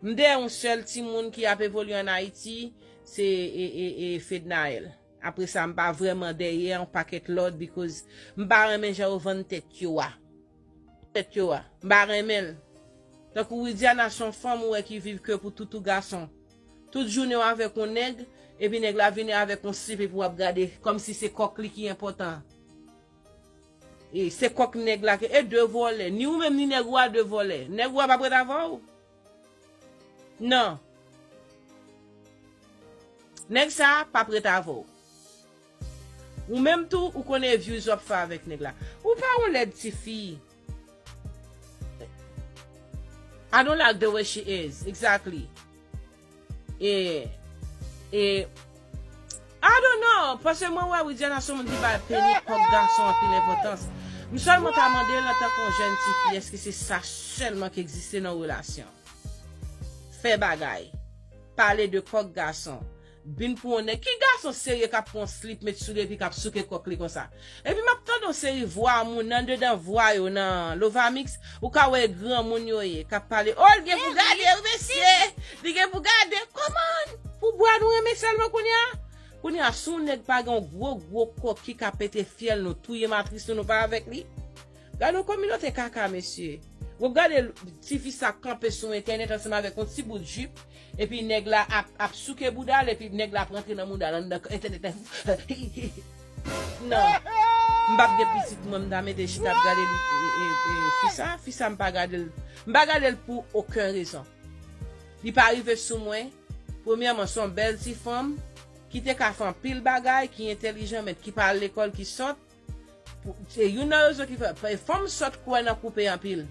M dèyè yon sèl timoun ki ap evolye an Ayiti, se Fednaelle. Apre sa, m pa vrèman dèyè yon pakèt lòt because m pa renmen jan yo vann tèt yo a. Tèt yo a. M pa renmen l. Tankou Widiana se yon fanm ou wè ki viv ke pou toutou gason. Tout jounen w avèk yon nèg, epi nèg la vini avèk yon slip epi w ap gade kòmsi se kòk li ki enpòtan. Se kok neg la ke e de volè ni ou menm ni neg ou a de volè neg ou a pap ret avèw nan neg sa pap ret avèw ou menm tou ou konnen views wap fè avèk neg la ou pa yon lèd tifi. I don't like the way she is exactly E E I don't know Pase mwen wè Widiana son moun ki bay peni pòp gason anpil enpòtans M sèlman ta mande l antanke yon jèn ti fi èske se sa sèlman ki egziste nan yon relasyon Fè bagay Pale de kòk gason Bin pou on nèg. Ki gason serye kap pran on slip met souli epi kap souke kòk li konsa. Epi map tande on seri vwa moun andedan vwa yo nan Lovamix ou ka wè e granmoun yo ye kap pale oh li gen pou gade wi mesye li gen pou gade kòman pou bwa nou renmen sèlman kounye a kounye a si on nèg pa gen on gwo gwo kòki ka pete fyèl nou touye matris nou nou pa avèk li Gad yon kominote kaka mesye. Wap gade tifi sa ap kanpe sou entènèt ansanm avèk yon ti bout jip epi nèg la ap souke boudal epi nèg la ap rantre nan moudal anndan entènèt la hihihi nan m pap gen pitit mwen m ta mete chita ap gade fi sa fi sa m pa gadel m pa gadel pou oken rezon li pa rive sou mwen premyèman son bèl ti fanm ki te ka fè anpil bagay ki entèlijan men ki pa al lekòl ki sòt. Se youn nan rezon ki fè. Fanm sòt kwè nan koupe anpil.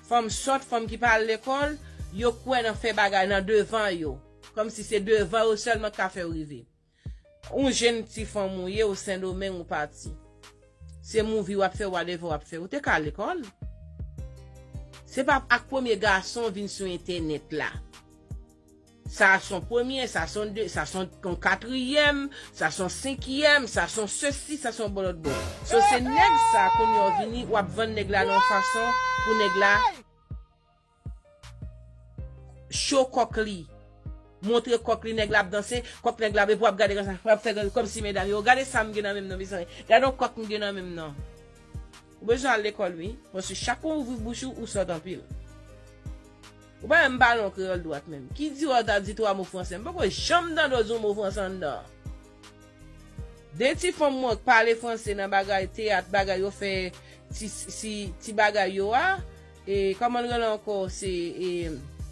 Fanm sòt, fanm ki pa al lekòl, yo kwè nan fè bagay nan devan yo. Kòm si se devan yo sèlman ki ka fè yo rive. Ou jenn ti fanm ou ye, ou Sendomeng ou pati. Se mouvi wap fè, whatever wap fè. Ou te ka al lekòl. Se pa ak premye gason ou vin sou entènèt la. Sa son premye, sa son de, sa son yon katriyèm, sa son senkiyèm, sa son sesi, sa son bòlòtbò. So se nèg sa kounye w vini w ap vann nèg la nan yon fason pou nèg la cho kòk li, montre kòk li, nèg la ap danse, kòk nèg la, epi w ap gade konsa, w ap fè kòmsi medam yo, gade sa m gen nan men m nan mezanmi, gade yon kòk m gen nan men m nan. Ou bezwen al lekòl wi, paske chak fwa w ouvri bouch ou, ou sòt anpil. Ou pa janm pale yon kreyòl dwat menm. Ki di wè ou ta di twa mo franse? M poko janm tande w di yon mo franse anndan an. De ti fanm mwen k pale franse nan bagay teyat bagay yo fè ti bagay yo a, e kòman l rele ankò se e.